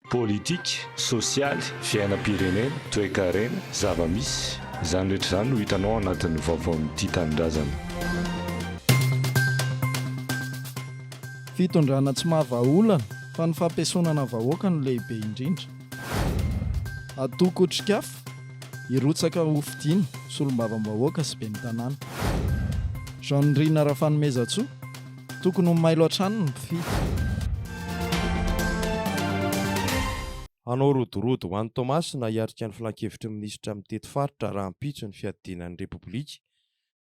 Politika, sosialy, fiainam-pirenena, toekarena, zava-misy, izany rehetra izany no hitanao ao anatin'ny vaovaon'ny Tia Tanindrazana. Fitondrana tsy maha vahaolana fa ny fampiesonana vahoaka no lehibe indrindra. Atoko otrikafo, hirotsaka ho fidiana, solombavambahoaka sy ben'ny tanàna. Jean Nirina Rafanomezantsoa. Tokony ho mailo hatrany ny mpifidy. Hanao rodorodo ho any Toamasina hiatrika ny filankevitry ny minisitra mitety faritra rahampitso ny fiadiana ny Repoblika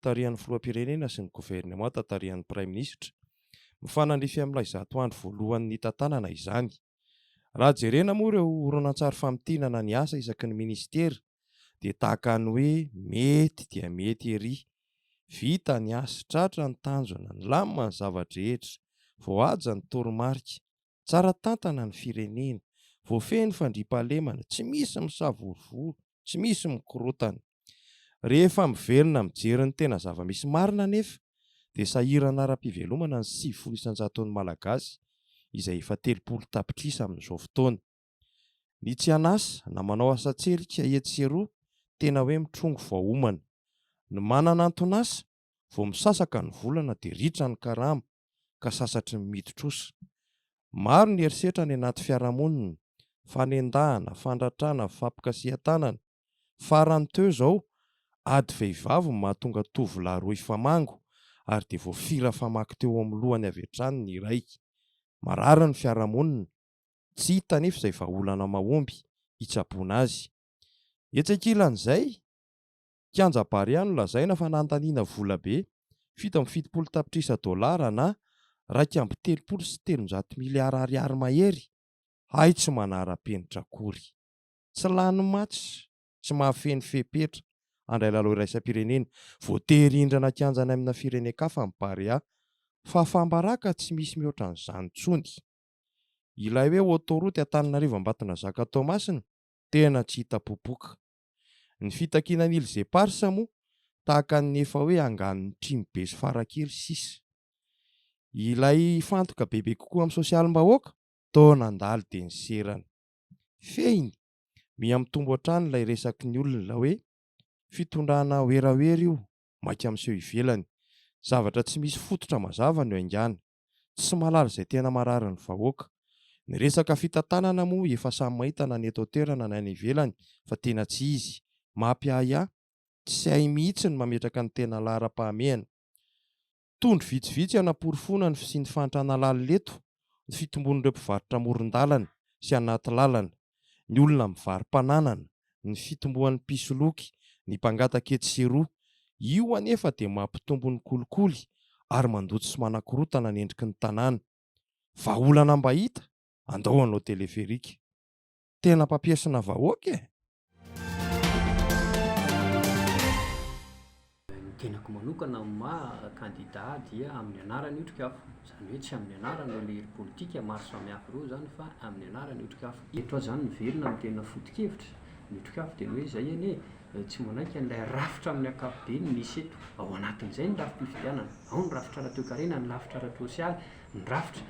tarihan'ny filoham-pirenena sy ny governemanta tarihan'ny praiminisitra. Mifanandrify amin'ilay zato andro voalohany nitantanana izany. Raha jerena moa ireo horonantsary famintinana ny asa isaky ny minisitera dia tahaka ny hoe mety dia mety ery, vita ny asa, tratra ny tanjona, nilamina ny zava-drehetra, voahaja ny toromarika, tsara tantana ny firenena, voafehy ny fandriampahalemana, tsy misy misavorovoro, tsy misy mikorontana. Rehefa miverina mijery ny tena zava-misy marina anefa dia sahirana ara-pivelomana ny sivifolo isan-jaton'ny Malagasy izay efa telopolo tapitrisa amin'izao fotoana. Ny tsy an'asa na manao asa-tselika etsy sy eroa tena hoe mitrongy vao homana. Ny manana anton'asa Vao misasaka ny volana dia ritra ny karama ka sasatry ny midi-trosa. Maro ny herisetra any anaty fiarahamonina, fanendahana, fandratrana, fampikasihan-tanana. Farany teo izao, ady vehivavy no mahatonga tovolahy roa hifamango ary dia voafira famaky teo amin'ny lohany avy hatrany ny iray. Marary ny fiarahamonina. Tsy hita anefa izay vahaolana mahomby hitsaboana azy. Etsy ankilan'izay, Kianja Barea nolazaina fa nandaniana volabe fito amby fitopolo tapitrisa dolara na iraika amby telopolo sy telonjato miliara ariary mahery hay tsy manara-penitra akory. Tsy lany match, tsy mahafehy ny fepetra handray lalao iraisam-pirenena. Voatery hindrana kianja any amina firenen-kafa ny Barea. Fahafaham-baraka tsy misy mihoatra an'izany intsony. Ilay hoe autoroute Antananarivo-Ambatonazaka-Toamasina tena tsy hita popoka. Ny fitakiana an'ily zeparsa moa tahaka ny efa hoe anganon'ny trimo be sy farakely sisa. Ilay hifantoka bebe kokoa amin'ny sosialim-bahoaka? Toa nandalo dia niserana. Fehiny, miha mitombo hatrany ilay resaky ny olona hoe fitondrana werawera io, maika miseho ivelany. Zavatra tsy misy fototra mazava no haingana. Tsy mahalala izay tena marary ny vahoaka. Ny resaka fitantanana moa efa samy mahita na ny eto an-toerana na ny ivelany fa tena tsy izy. Mapiahiahy. Tsy hay mihitsy ny mametraka ny tena laharam-pahamehana. Tondro vitsivitsy hanaporofoana ny fisian'ny fahantrana lalina eto ny fitombon'ireo mpivarotra amoron-dalana sy anaty lalana. ny olona mivari-pananana, ny fitomboan'ny mpisoloky, ny mpangataka etsy sy eroa. Io anefa dia mampitombo ny kolikoly ary mandoto sy manakorontana ny endriky ny tanàna. Vahaolana mba hita? Andao hanao teleferika. Tena mpampiesona vahoaka e! Ny tenako manokana amin'ny maha kandida ahy dia amin'ny anaran'ny otrikafo. Izany hoe tsy amin'ny anaran'ireo lehiry politika maro samihafa ireo izany fa amin'ny anaran'ny otrikafo. Eto aho izany miverina amin'ny tena foto-kevitra ny otrikafo dia ny hoe izay anie tsy manaiky an'ilay rafitra amin'ny ankapobeny misy eto. Ao anatin'izay ny rafi-pifidianana, ao ny rafitra ara-toekarena, ny rafitra ara-tsosialy, ny rafitra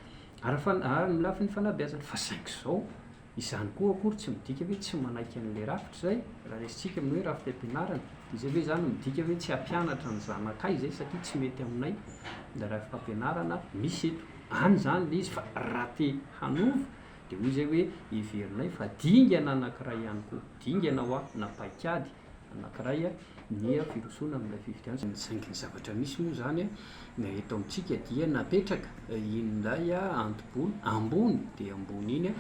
ary ny lafiny fanabeazana fa saingy izao Izany koa akory tsy midika hoe tsy manaiky an'ilay rafitra izay, raha resintsika amin'ny hoe rafitra am-pianarana, izay ve izany midika hoe tsy hampianatra ny zanakay izay satria tsy mety aminay ilay rafitra am-pianarana misy eto? Any izany ilay izy fa raha te hanova dia hoy izay hoe heverinay fa dingana anankiray ihany koa, dingana hoa na paikady anankiray ny firosoana amin'ilay fifidianana. Saingy ny zavatra misy moa izany eto amintsika dia napetraka indray anto-bola ambony dia ambony iny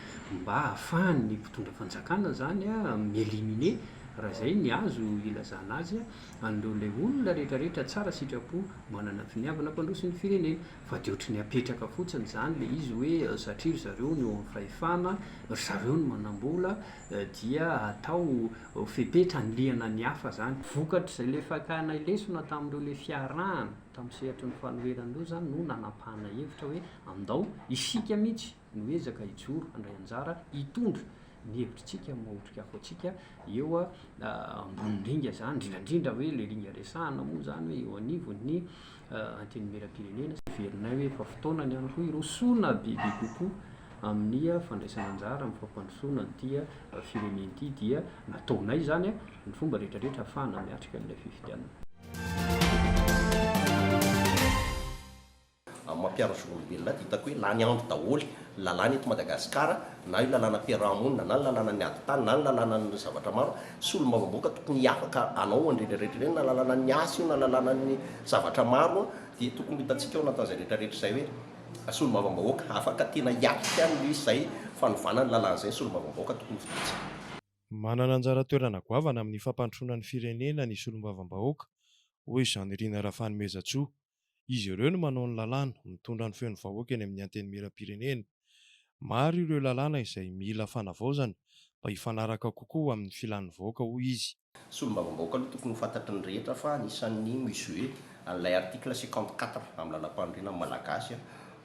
mba hahafahan'ny mpitondra fanjakana izany mi-éliminer, raha izay ny azo ilazana azy, an'ireo ilay olona rehetrarehetra tsara sitrapo manana finiavana hampandroso ny firenena. Fa dia ohatry ny apetraka fotsiny izany ilay izy hoe satria ry zareo no eo amin'ny fahefana, ry zareo no manam-bola dia atao. ho fepetra anilihana ny hafa izany. Vokatr'izay ilay fakana lesona tamin'ireo ilay fiarahana tamin'ny sehatry ny fanoherana ireo izany no nanapahana hevitra hoe andao isika mihitsy no hiezaka hijoro handray anjara hitondra ny hevitritsika maha otrikafo antsika eo ambonin'ny ringa izany, indrindrandrindra hoe ilay ringa resahana moa izany hoe eo anivon'ny Antenimierampirenena sy heverinay hoe efa fotoana ny an'i Hirosoana bebe kokoa amin'ny fandraisana anjara amin'ny fampandrosoana an'ity firenena ity dia nataonay izany ny fomba rehetrarehetra hahafahana miatrika an'ilay fifidianana. Amin'ny maha mpiaro zon'olombelona ahy dia hitako hoe lany andro daholo ny lalàna eto Madagasikara, na io lalàna fiaraha-monina, na ny lalànan'ny ady tany, na ny lalànan'ny zavatra maro Solombavambahoaka tokony hiavaka anao an'ireny rehetra ireny na lalàna ny asa io na lalàna ny zavatra maro dia tokony hohitantsika ao anatin'izay rehetra rehetra izay hoe solombavambahoaka afaka tena hiatrika an'izay fanovana ny lalàna izay ny solombavambahoaka tokony hofidiantsika. Manana anjara toerana goavana amin'ny fampandrosoana ny firenena ny solombavambahoaka, hoy Jean Nirina Rafanomezantsoa, Izy ireo no manao ny lalàna, mitondra ny feon'ny vahoaka eny amin'ny Antenimierampirenena. Maro ireo lalàna izay mila fanavaozana mba hifanaraka kokoa amin'ny filan'ny vahoaka, hoy izy. Solombavambahoaka aloha tokony ho fantatry ny rehetra fa anisan'ny mi-jouer an'ilay article cinquante quatre amin'ny Lalàmpanorenan'ny Malagasy,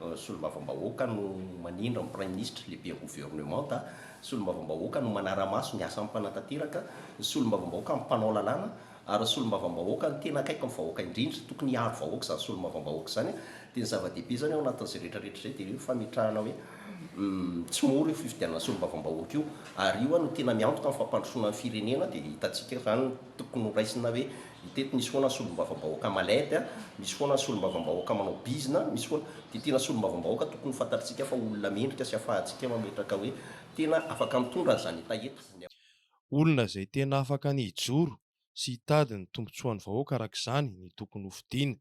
Solombavambahoaka no manindry ny Praiminisitra, Lehiben'ny Governemanta, Solombavambahoaka no manara-maso ny asan'ny Mpanatanteraka, ny Solombavambahoaka no mpanao lalàna, Ary ny solombavambahoaka no tena akaiky ny vahoaka indrindra, tokony hiaro vahoaka izany solombavambahoaka izany an, dia ny zava-dehibe izany ao anatin'izay rehetra rehetra izay dia io fametrahana hoe tsy mora io fifidianana solombavambahoaka io, ary io an no tena miantoka amin'ny fampandrosoana ny firenena, dia hitantsika izany tokony ho raisina hoe teto misy foana ny solombavambahoaka malady an, misy foana ny solombavambahoaka manao bizina, misy foana, dia tena solombavambahoaka tokony ho fantatritsika fa olona mendrika sy afahantsika mametraka hoe tena afaka mitondra an'izany hetaheta. Olona izay tena afaka ny hijoro sy hitady ny tombontsoan'ny vahoaka araka izany ny tokony ho fidiana.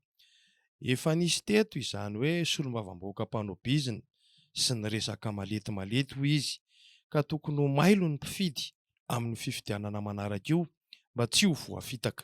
Efa nisy teto izany hoe solombavambahoaka mpanao bizina sy ny resaka malety malety hoy izy ka tokony ho mailo ny mpifidy amin'ny fifidianana manaraka io mba tsy ho voafitaka.